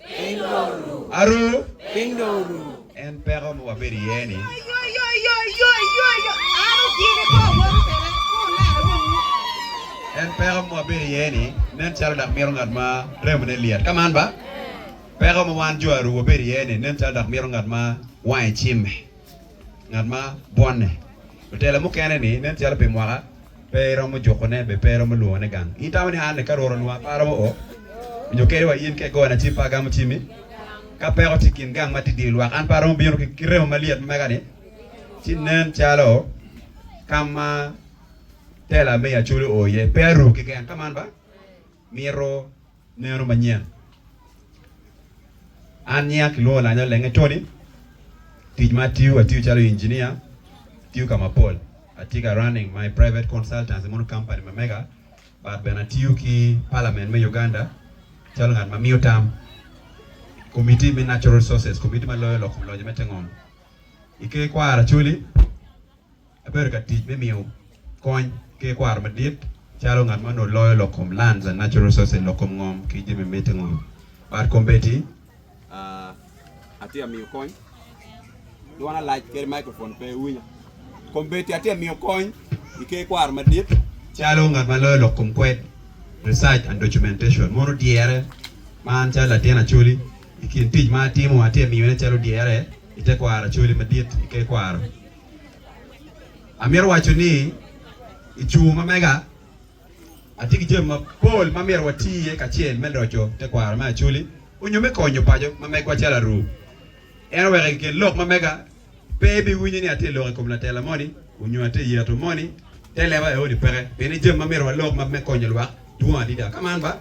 Piny dong oru. Aru. Piny dong oru. En peko ma wabedo iye ni. En peko ma wabedo iye ni nen calo dok mito ngat ma remone lyet. Ka man ba, peko ma wan jo aru wabedo iye ni nen calo dok mito ngat ma wange cimme. Ngat ma bwonne otelo mukene ni nen calo pi mwaka pe iromo jukone be pe iromo lwongone gang. In itamo ni anne ka Rwot onwongo aparo mo o onyo keri wa in ka igona cim pe agamo cimi? Ka peko tye ikin gang ma tye idye lwak an pe aromo bino ki remo malyet ma mega ni? Ci nen calo kam ma tela me Yaculu o iye pe aru keken ka man ba? Mito. Neno manyen. An nyinga kilwongo Lanya Olenge Tony. Tic ma atiyo, atiyo calo injinia, atiyo ka mapol. Atye ka running my private consultancy mono company ma mega but bene atiyo ki parliament me Uganda calo ngat ma miyo tam i committee me natural resources, committee ma loyo lok kom loje me te ngom. I ker kwaro Acholi. Abedo ka tic me miyo kony ki ikwaro madit calo ngat ma onongo loyo lok kom Lands and Natural Resources, lok kom ngom ki jami miti ngom, bad kombeddi. Atye ka miyo kony. Dwona lac kadi microphone pe winya. Kombeddi atye ka miyo kony i ker ikwaro madit calo ngat ma loyo lok kom kwed, Research and Documentation. Mono dyere ma an calo latin Acholi i kin tic ma atimo atye ka miyone calo dyere i tekwaro Acholi madit i ker ikwaro. Amito waco ni i cungo ma mega, atye ki jami mapol ma myero wati iye kacel me loco tekwaro me Acholi onyo me konyo paco ma megwa calo Aru. En oweko i kin lok ma mega, pe ibiwinyo ni atye lok i kom latela moni onyo atye yeto moni. Te leba aye ni peke, pien ni jami ma myero walok ma me konyo lwak dwong adida. Ka man ba,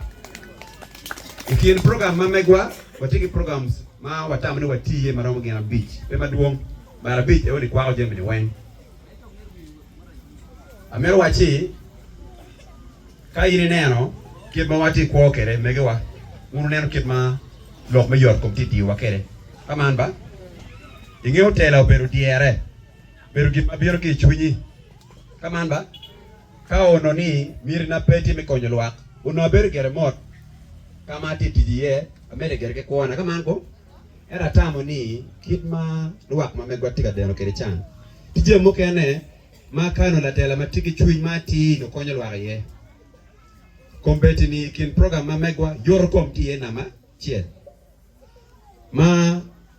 i kin program ma megwa, watye ki programs ma watamo ni wati iye ma romo gin abic, pe madwong. Mar abic aye ni kwako jamini weng. Amito wacci ka in ineno kit ma watye kwo kede megiwa, wun wuneno kit ma lok me yot kom tye diyowa kede. Ka man ba, ingeyo tela obedo dyere, bedo gin ma bino ki i cwinyi. Ka man ba, ka ono ni mitina pe tye me konyo lwak, ono abedo gere mot ka ma atye tic iye, amedde gere ki kwona. Ka man ko. Ento atamo ni kit ma lwak ma megwa tye ka deno kwede can, tye jami mukene ma ka onongo latela ma tye ki cwiny ma atir onongo konyo lwak iye. Kombeddi ni i kin program ma megwa, yoto kom tye iye namba acel. Ma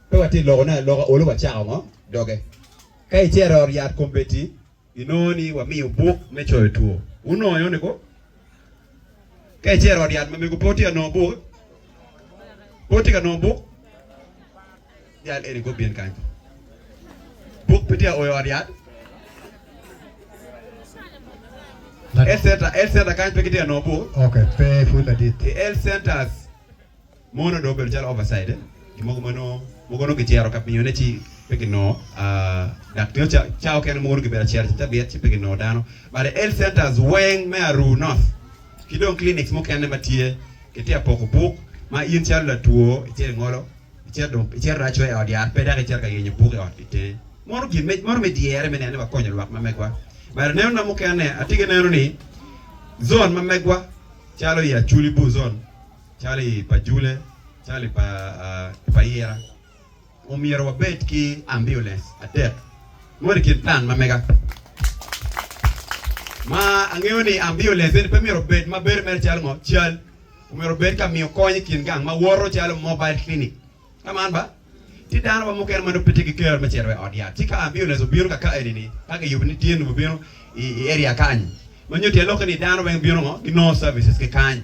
pe watye ka lokone aloka, olu wacako ngo doge. Ka icito i ot yat kombeddi, Inongo ni wamiyo buk me coyo two. Wunongo eno niko? Ka icero i ot yat ma mego pe wutye ka nongo buk? Pe wutye ka nongo buk? Jal eni gubin kany to. Buk pe tye ka o i ot yat? Health center, health center kany pe gitye ka nongo buk? Okay, pe pud ladit. I health centers. Mono dong obedo calo overside, gin mogo ma nongo mogo nongo kicero ka miyone ci pe kinongo dak nio ca ca okene mogo nongo kibedo acero ca cabit ci pe kinongo dano. But the health centers weng me Aruu North ki dong clinics mukene ma tye kitye ka poko buk ma in calo latwo icito ingolo icito dong icito dong acwe i ot yat pe dok icito ka yenyo buk i ot ki itenge. Mono gin me mono me dyere me neno ni wakonyo lwak ma megwa. But anenona mukene atye ki neno ni zone ma megwa calo i Acholi Bur zone, calo i pa Jule, calo i pa i pa Ira, omyero wabed ki ambiulens adek mono i kin plan ma mega. Ma angeyo ni ambiulens eni pe myero obed ma bedo mere calo ngo cal, omyero obed ka miyo kony i kin gang ma woto calo mobile clinic. Ka man ba, tye dano wa mukene ma nongo pe tye ki kero me cito wa i ot yat. Ci ka ambiulens obino ka ka eni-ni, ka kiyubo ni tye nongo bino i area kany-nyi, ma nyuto iye lokke ni dano weng bino ngo, ginongo services ki kany.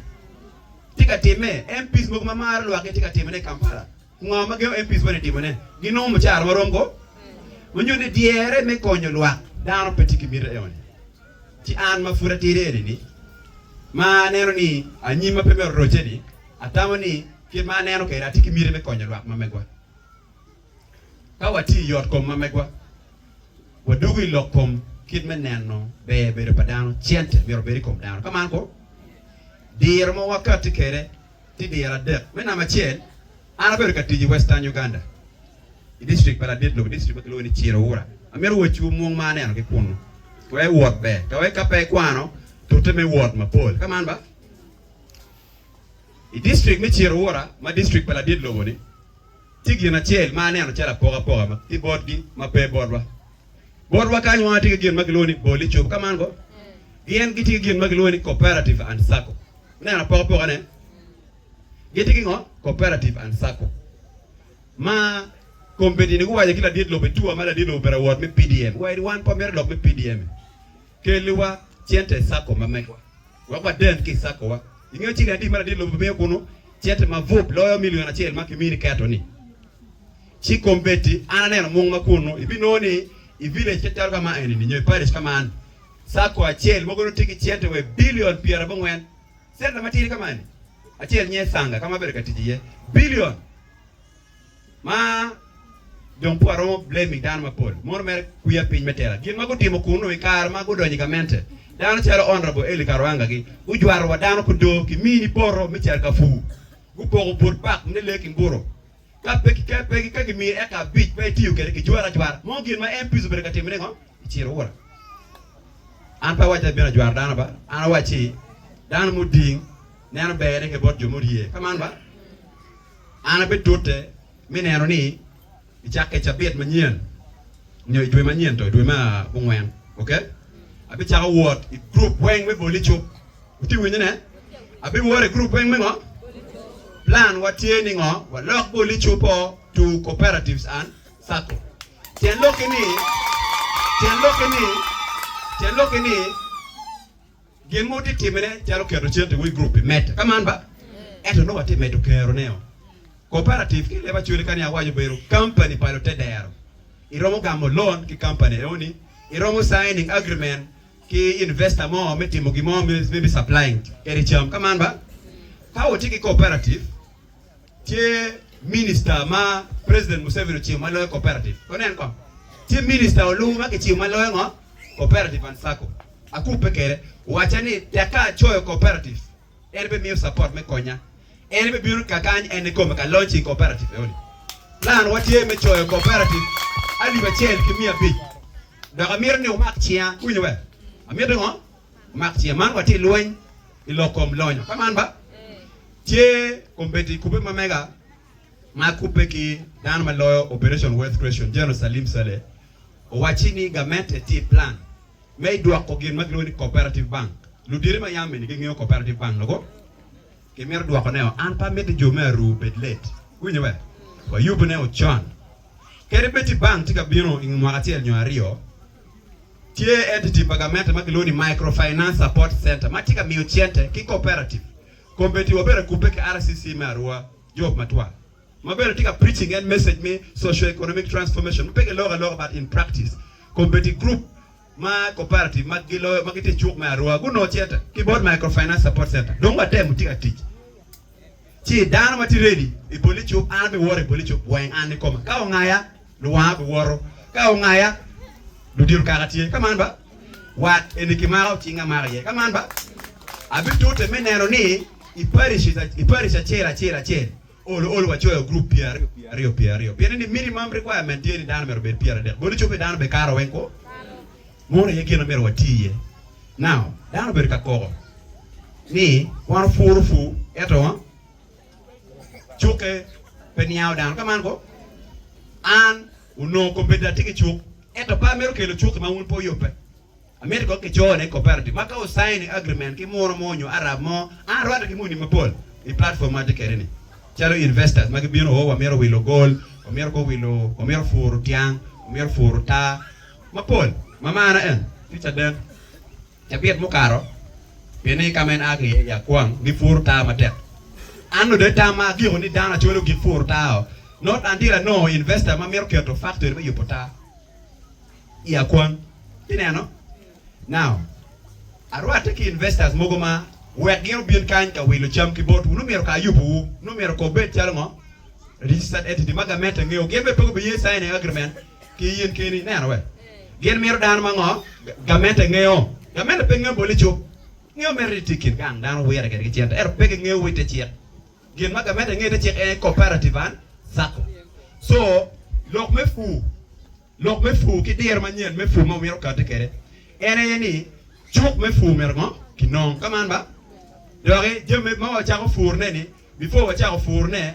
Tye ka timme. MPs mogo ma maro lwak gitye ka timone i Kampala. Ngo ma gengo MPs moni timone? Ginongo mucara ma rom ko? Ma nyuto ni dyere me konyo lwak, dano pe tye ki miti eno-ni. Ci an ma pud atidi eni-ni, ma aneno ni anyimma pe myero orocce-ni, atamo ni Kit ma aneno kwede, atye ki miti me konyo lwak ma megwa. Ka watye i yotkom ma megwa, wadwogo i lok kom kit me neno ber bedo pa dano, cente myero obed i kom dano, ka man kong? Diro ma wakatti kwede tye diro adek. Me namba acel, an abedo ka tic i Western Uganda, i dictrik pa ladit lobo, dictrik ma kilwongo ni Chirowura. Amito wacciwu mwong ma aneno ki kunnu. Ka wek iwot ber, ka wek ka pe ikwano, tute me wot mapol, ka man ba? I distrik me Chirrahurra ma distrik pa ladit lobo-ni, tye gin acel ma aneno calo apokapoka ki botgi ma pe botwa. Botwa kany wanga tye ki gin ma kilwongo ni bol icup, ka man ko? Gin gitye ki gin ma kilwongo ni Cooperative and Sacco. Ineno apokapokane? Gitye ki ngo? Cooperative and Sacco. Ma kombedini guwaco ki ladit lobo i tua ma ladit lobo obedo awot me PDM, wa iri wan pe wamito lok me PDM-mi. Kelliwa cente i Sacco ma megwa wek waden ki i Saccowa. Ingeyo ci ni adi mada dit lobo miyo kunu cente ma bup loyo milion acel ma kimini keto ni? Ci kombeddi an aneno mung ma kunu ibinongo ni i village ca calo ka ma eni ni nyo i parish ka man, Sacco acel mogo nongo tye ki cente wa i bilion pyerabongwen. Center matidi ka ma eni acel nye Sanga ka ma abedo ka tic iye, bilion! Ma dong pe waromo blame i dano mapol, mono mere kwiya piny me tela. Gin ma gutimo kunnu i kare ma gudonyo i gamente, dano calo Honourable Elly Karwanga gi gujwato wa dano kudo ki mini poto me carkafu, gupoko but park ne lee ki mburo. Ka pe ki ka gimiyo eka abic pe itiyo kwede kijwara ajwara. Mo gin ma MPs obedo ka timo ni ngo? Iciro ura. An pe awaco ni abino ajwaro dano ba, an awaco ni dano muding neno berne ki bot jo murye. Ka man ba? An abitute me neno ni i cakke cabit manyen nyo i dwe manyen to, dwe me abongwen, ok? Abicako wot i gurup weng me boli cuk. Wutye winyo ne? Abiwot i gurup weng me ngo? Plan wa tye ni ngo? Walok boli cuk o to cooperatives and sacco. Tyen lok ki ni, tyen lok ki ni, tyen lok ki ni, Gin ma watye ka timone calo keto centiwa i gurup pi medde, ka man ba, ento nongo watye ka medo keroneo. Koperatif ki i leb Acholi ka ni awaco obedo kampani pa lutedero. Iromo gamo lon ki kampani enoni, iromo signing agreement ki investor mo me timo gin mo, maybe supplying kadi cam, ka man ba? Ka watye ki koperatif, Tye minister ma president Museveni ocibo ma loyo cooperative, wunen kong. Tye minister oluwu ma kicibo ma loyo ngo? Cooperative and sacco. Akubbe kede, wacca ni tek ka acoyo cooperative, en be miyo support me konya. En be bino ka kany en nikome ka launching cooperative eoni. Plan wa tye me coyo cooperative alip acel ki miya abic. Dok amito ni wumak cinga, iwinyo be? Amito ngo? Wumak cinga. Man watye ilweny ilok kom lonyo. Ka man ba? Ce kombeddi i kubbe ma mega ma kubbe ki dano ma loyo Operation Worth Creation General Salim Saleh owacci ni gamente tye i plan me i dwoko gin ma gilwongo ni Cooperative Bank. Luditi ma yam eni gingeyo Cooperative Bank logo ki mito dwoko ne o. An pe amiti jo me Aruu obed let. Iwinyo be? Wa yubu ne o con. Kadi bed ti bank tye ka bino inge mwaka acel nyo aryo, tye entity pa gamente ma kilwongo ni Microfinance Support Center ma tye ka miyo cente ki cooperative. Committee wa bene okubbe ki RCC me Arua, Job Matwal, ma bene tye ka preaching en message me socio-economic transformation ma pe kiloko aloka but in practice. Committee group ma cooperative ma giloyo ma gitye i cuk me Arua gunongo cente ki bot Microfinance Support Centre. Dong watemo watye ka tic ci dano ma tye ready i Bolicup an abiwoto i Bolicup weng an ikoma. Ka ongaya, luwanga biwoto. Ka ongaya, ludito kaka tye. Ka man ba? Wat eni kimako cing amaka iye. Ka man ba, abitute me neno ni i parish, parish acel acel acel ol ol wacoyo group pyer aryo pyer aryo pyer aryo, pien ni minimum requirement tye ni dano myero obed pyer adek. Bot ecobbe dano be karo weng kwo? Munu aye gin ma myero wati iye. Now, dano obedo ka koko ni wan opuro pur ento cukke pe niango dano. Ka man ko, an Onongo kobbe da tye ki cuk, ento par meri okelo cuk ma wun pe wuyubbe. Amito kong kico ni cooperative ma ka wusaini agreement ki muno mo nyo Arab mo, an arwatte ki muni mapol i platform ma atye kede ni, calo investors ma gibino oo wamito wilo gol, wamito kong wilo, wamito puro tyang, wamito puro taa mapol ma marana en, future den. Cabit mukato, pien ni ka ma en a ki iye i akwang, gipuro taa matek. An nongo dong tamma agiko ni dano acwalo gipur taa-o, not until anongo investor ma mito keto factory me yubo taa i akwang. Ineno? Now, arwatte ki investors mogo ma wek gin obin kany ka wilo cam ki botwu. Nongo myero kar yubowu, nongo myero kor bed calo ngo? Registered entity ma gamente ngeyo. Gin bene pe gubiye sign-ing agreement ki in keni. Ineno? Wek. Gin mito dano ma ngo? Gamente ngeyo. Gamente pe ngeyo boli cuk. Ngeyo mere ni tye kin gang dano wire kwede ki cente ento pe gingeyo wa ite cik. Gin ma gamente ngeyo ite cik en cooperative and sacco. So lok me pur, lok me pur ki diro manyen me pur ma wumito kati kwede en aye ni cuk me pur myero ngo? Kinong. Ka man ba? Doki jami ma wacako purune ni before wacako purune,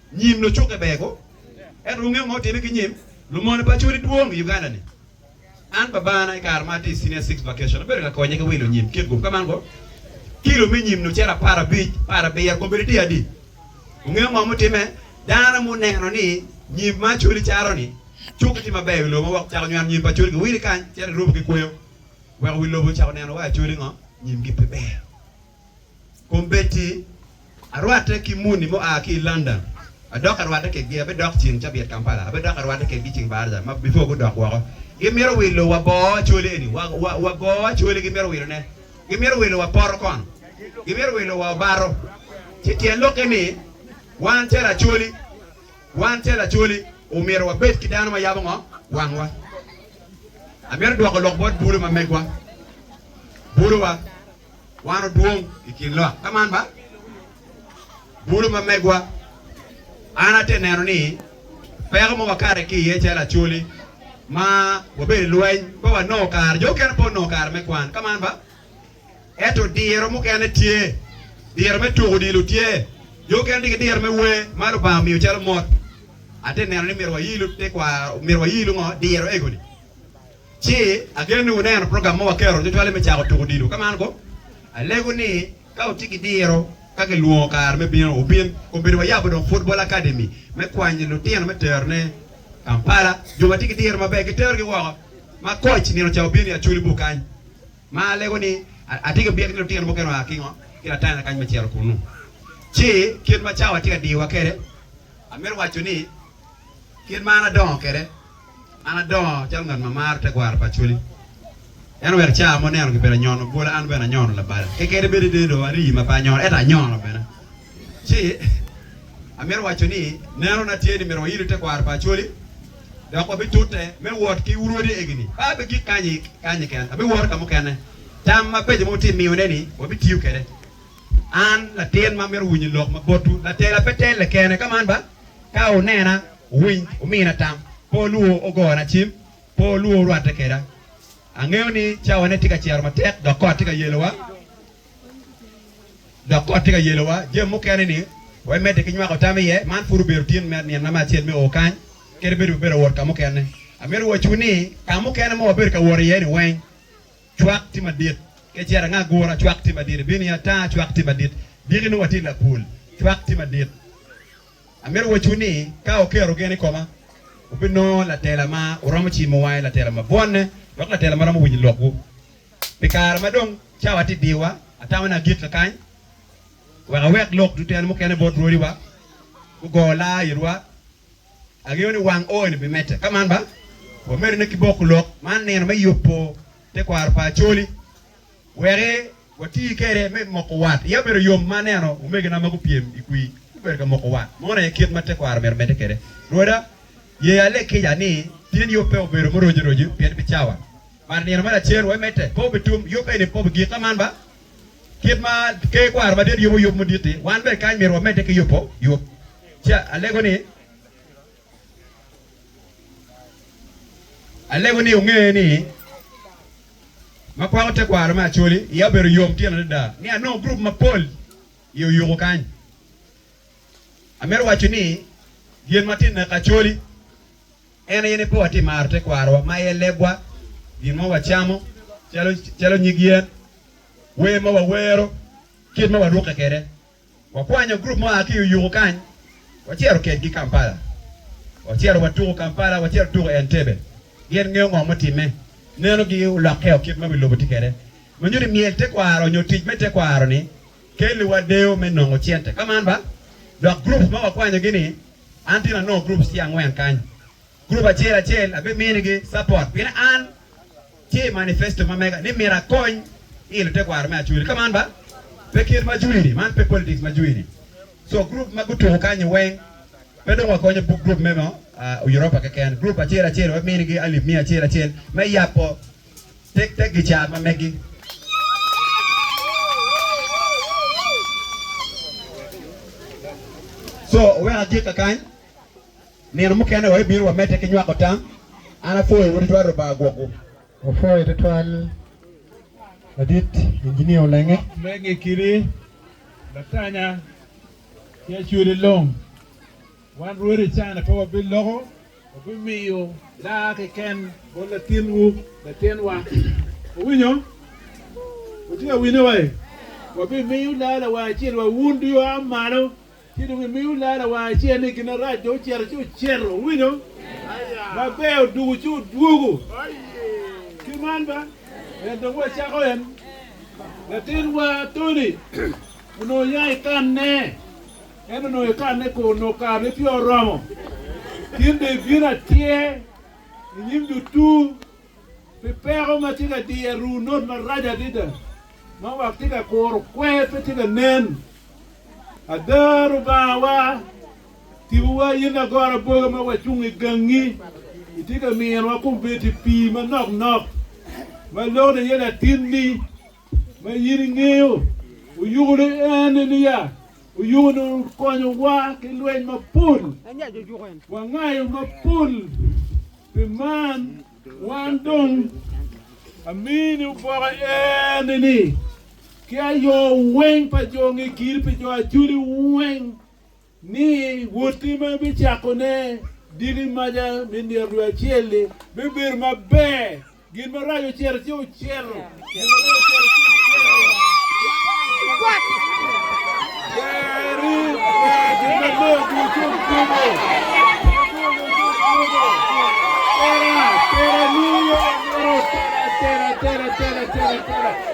Nyim lucukke ber ko. Ento wungeyo ma otimme ki nyim? Lumony pa Acholi dwong i Uganda ni. An babana i kare ma atye i Senior Six Vacation obedo ka konye ki wilo nyim kit gup ka man ko. Kilo me nyim-ni ocito apar abic, apar abiro kong bedo tye adi. Wungeyo ngo ma otimme? Dano muneno ni nyim ma Acholi caro ni cukke tye maber i wi lobo ma woko ocako nywano nyim pa Acholi giwili kany cito girubo ki kweyo weko wi lobo ocako neno wa Acholi ngo nyimgi pe ber. Kombeddi arwatte ki muni mua ki i London, adok arwatte kekgi, abidok ceng cabit Kampala, abidok arwatte kekgi ceng Barda ma before gudok woko. Gimito wilo wa boo Acholi eni, wa, wa, wa boo Acholi gimito wilone. Gimito wilo wa poto kono. Gimito wilo wa Obato. Ci tyen lokke ni, wan calo Acholi, wan calo Acholi, omyero wabed ki dano ma yabo ngo? Wangwa. Amito dwoko lok bot bulu ma megwa. Buluwa. Wan odwong i kin lok. Ka man ba, bulu ma megwa, an ate neno ni peko ma wakati ki iye calo Acholi ma wabedo i lweny pe wanongo kare. Jo mukene pe onongo kare me kwan. Ka man ba, ento diro mukene tye. Diro me tuko odilo tye. Jo mukene tye ki diro me wer ma Lubanga omiyo calo mot. Ate neno ni myero wayilu tekwaro, myero wayilu ngo? Diro ego-ni. Ci ageno ni wuneno program ma waketo cwacwalle me cako tuko odilo. Ka man ko, alego ni ka wutye ki diro ka kilwongo kare me bino, wubin. Kombeddi wayabo dong Football Academy me kwanyo lutino me terone Kampala. Jo ma tye ki diro maber giterogi woko ma koc nino ca wubin i Acholi-bu kany. Ma alego ni atye ki byek ni lutino mukene oa ki ngo? Ki Latanya kany me cito kunnu. Ci kit ma cawa tye ka diyowa kwede, amito waco ni Kit ma an adongo kwede, an adongo calo ngat ma maro tekwaro pa Acholi. En oweko cawa ma oneno kibedo anyono bwola, an bene anyono labala. Kekeni bedo ni dong arii ma pe anyono, ento anyono bene. Ci amito waco ni nenona tye ni myero wayilo tekwaro pa Acholi dok wabitute me wot ki wurwodi egini. Pe abigik kanyi kanyi keken, abiwoto ka mukene. Tam mabeco ma wutye ka miyone-ni, wabitiyo kwede. An latin ma mito winyo lok ma botwu, latela pe telle kene. Ka man ba? Ka onena, owiny, omina tam. Pe olwor ogona cim, pe olwor orwatte keda. Angeyo ni cawane tye ka cero matek dok kot tye ka yelowa, dok kot tye ka yelowa. Jami mukene ni we medde ki nywako tam iye, man pud obedo tin me nina me acel me o kany, kadi bed ibedo ka wot ka mukene. Amito wacciwu ni, ka mukene ma wabedo ka wot iye-ni weng, Cwak tye madit. Kecera ango agura? Cwak tye madit. Ibino i ata? Cwak tye madit. Diki nongo watye i lapul. Cwak tye madit. Amito wacwu ni ka wuketo gen i koma, wubinongo latela ma wuromo cimo wange, latela ma bwonne, dok latela ma romo winyo lokwu. Pi kare ma dong cawa tye ka diwa, atamo ni agik kakany wek awek lok tutene mukene bot rwodiwa gugo laa itwa. Angeyo ni wang ooni bi mette. Ka man ba, wamedone ki boko lok man nino me yubo tekwaro pa Acholi weki wati kede me moko wat. Iya obedo yom ma aneno omegina ma gupyem i kwi gubedo ka moko wat. Mono aye kit ma tekwaro omyero omedde kede. Rwoda, ye aleg kica ni pien yub pe obedo muroci roci pien bicawa mar nino me lacen wai mette pe obitum yub eni pe obigik. Ka man ba, Kit ma Ker Kwaro Madit yubo yub mudit-ti, wan bene kany myero wamedde ki yubo yub. Ci alego ni, alego ni wunge ni, ma kwako tekwaro me Acholi, iya obedo yom tyen adada ni anongo gurup mapol i Oyuku kany. Amito waco ni, gin ma tye i naka Acholi, En aye ni pe watye maro tekwarowa ma aye lebwa, gin ma wacamo, calo nyig yen, wer ma wawero, kit ma warukke kwede. Wakwanyo gurup mua ki i Uyuku kany, wacito kedgi Kampala. Wacito watuko Kampala, wacito tuko Entebbe. Gin ngeyo ngo mutimme? Nenogi olokkeo kit ma bilubo tye kwede. Ma nyuto ni myel tekwaro nyo tic me tekwaro-ni kelliwa deyo me nongo cente. Ka man ba? Dok groups ma wakwanyogi-ni An tye lanongo groups tye angwen kany. Group acel acel abi minigi support pien an tye i manifesto ma mega ni myero akony i lute kwaro me Acholi. Ka man ba pe kit ma Jui ni, man pe politics ma Jui ni. So group ma gutuku kany ni weng pe dong wakonyo group me mo Europa keken. Group acel acel wabi minigi alip miya acel acel me yabo Tek tek gicar ma megi. Co oweko atii kakany. Nino mukene wa ibino wa mete ki nywako tam. An apwoyo wu tutwal Rubanga gwokwu. Wapwoyo tutwal ladit Engineer Olenge. Megi kidi Latanya ki Acholi Long. Wan rwodi i caa-ni pe wabiloko, wabimiyo daa keken bot latinwu, latinwa. Wuwinyo? Wutye ka winyo wa-i? Wabimiyo daa lawar acel wa wun dong iwa malo, ci dong imiyo daa lawar acel ni gin arac dong ocito ci ocito. Wuwinyo? Maber, odwogo ci odwogo. Ki man ba, en dong wacako en. Latinwa Tony onongo oya i kanne. En onongo ikanne kor onongo kare pe oromo. Gin bene ibino atyer i nyim lutur pi peko ma tye ka diyo aruu not marac adada ma wak tye ka kuro kwer pe tye ka nen. Ada Lubangawa, tibuwa in lagora boga ma wacung i gangi, itye ka minowa kombeddi pii manok nok ma lokne iye latinni. ma in ingeyo oyukone ene niya, Oyuko ni okonyowa ki lweny mapol, wangayo mapol. Pi man, wan dong amini oboke ene-ni, ki ayo weng pa jo nge kiri pi jo acoli weng. ni wotti ma ibicakone diki maca me nino dwe acel-li bibedo maber, gin marac ocito ci ocito, gin malac ocito ci ocito.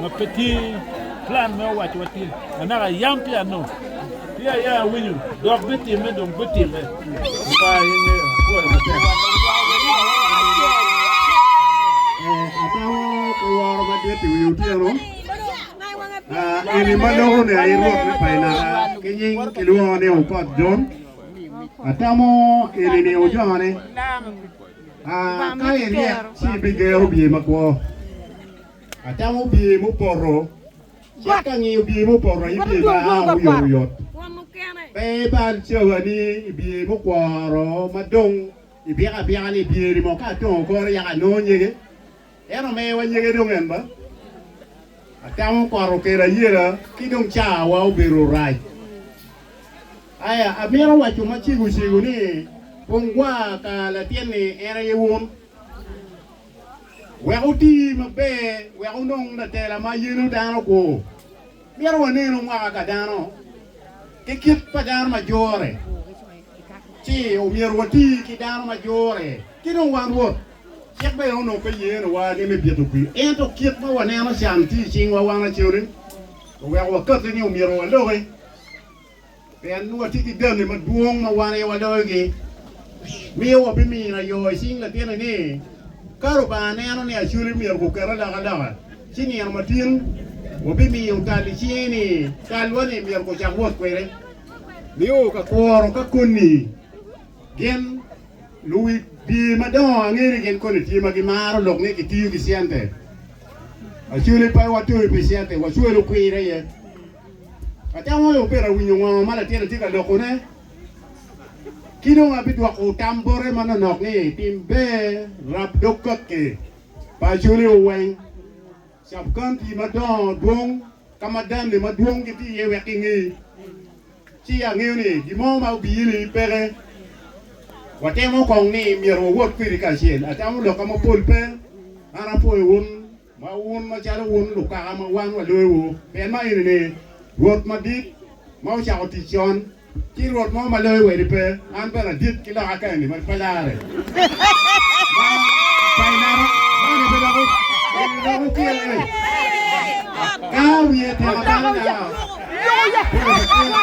ma pe tye plan me owaco wa tin anaka yam pi ano pi aya awinyo dok bi time dong bi time pa aye nge akoyo matek woro madit i wi otyeno eni ma loko ni aye rwot me paina ki nying ki lwongo ni opot jon atamo eni ni ojone ka iryek ci bigeo bye makwo Atamo bye mupoto. Cit ka ngiyo bye mupoto aye bye ma aa oyotoyot. Pe ibal cawani i bye mukworo ma dong ibiko abika ni bye-ni mo ka atongo kore yaka anongo nyege. En omewa nyege dong en ba. Atamo kot okelo ayela ki dong cawa obedo rac. Aya, amito waco macegocego ni, Pong gwar ka latin-ni en aye wun. Wek oti maber wek wunong latela ma yelo dano kwo, myero wanenu mwaka ka dano ki kit pa dano ma jure, ci omyero wati ki dano ma jure. Ci dong wan Rwot cik bene onongo pe yenowa ni me bito kwir. Ento kit ma waneno can tye i cingwa wan acel-li, oweko wakati ni omyero waloki. Pien watye ki ganni madwong ma wan aye waloyogi, miyo wabimino ayo i cing Latini ni, ka Lubanga neno ni Acoli myero guket alokaloka, ci nino matin wabimiyo tal i cinge ni talwa-ni myero gucak wot kwede. Nio ka kuro ka koni gin luwi dye madongo ange ni gin koni tye ma gimaro lok ni kitiyo ki cente. Acoli pe watoyo pi cente, wacwelo kwir aye. Atam wai obedo awinyo ngo ma latinna tye ka loko ne ki dong abidwoko tam bote ma nonok ni tim ber rab dog kaki pa acholi o weng sub county madongo dwong ka ma dame madwong gi tye iye wek ki ngi ci angeyo ni gimo ma obi ili peke watemo kong ni myero wawot kwidi kacel atamo loka mapol pe an apwoyo wun Ma wun macalo wun lukaka ma wan waloyowu, pien ma eni ni, Rwot madit ma ocako tic con, ci Rwot mo ma loyo wadi pe, an bene adit ki loka ka eni ma pe larre. Ma painaro moni pe dok wupyel ni, Ka wiye tyeka balo nao, pire pe kela.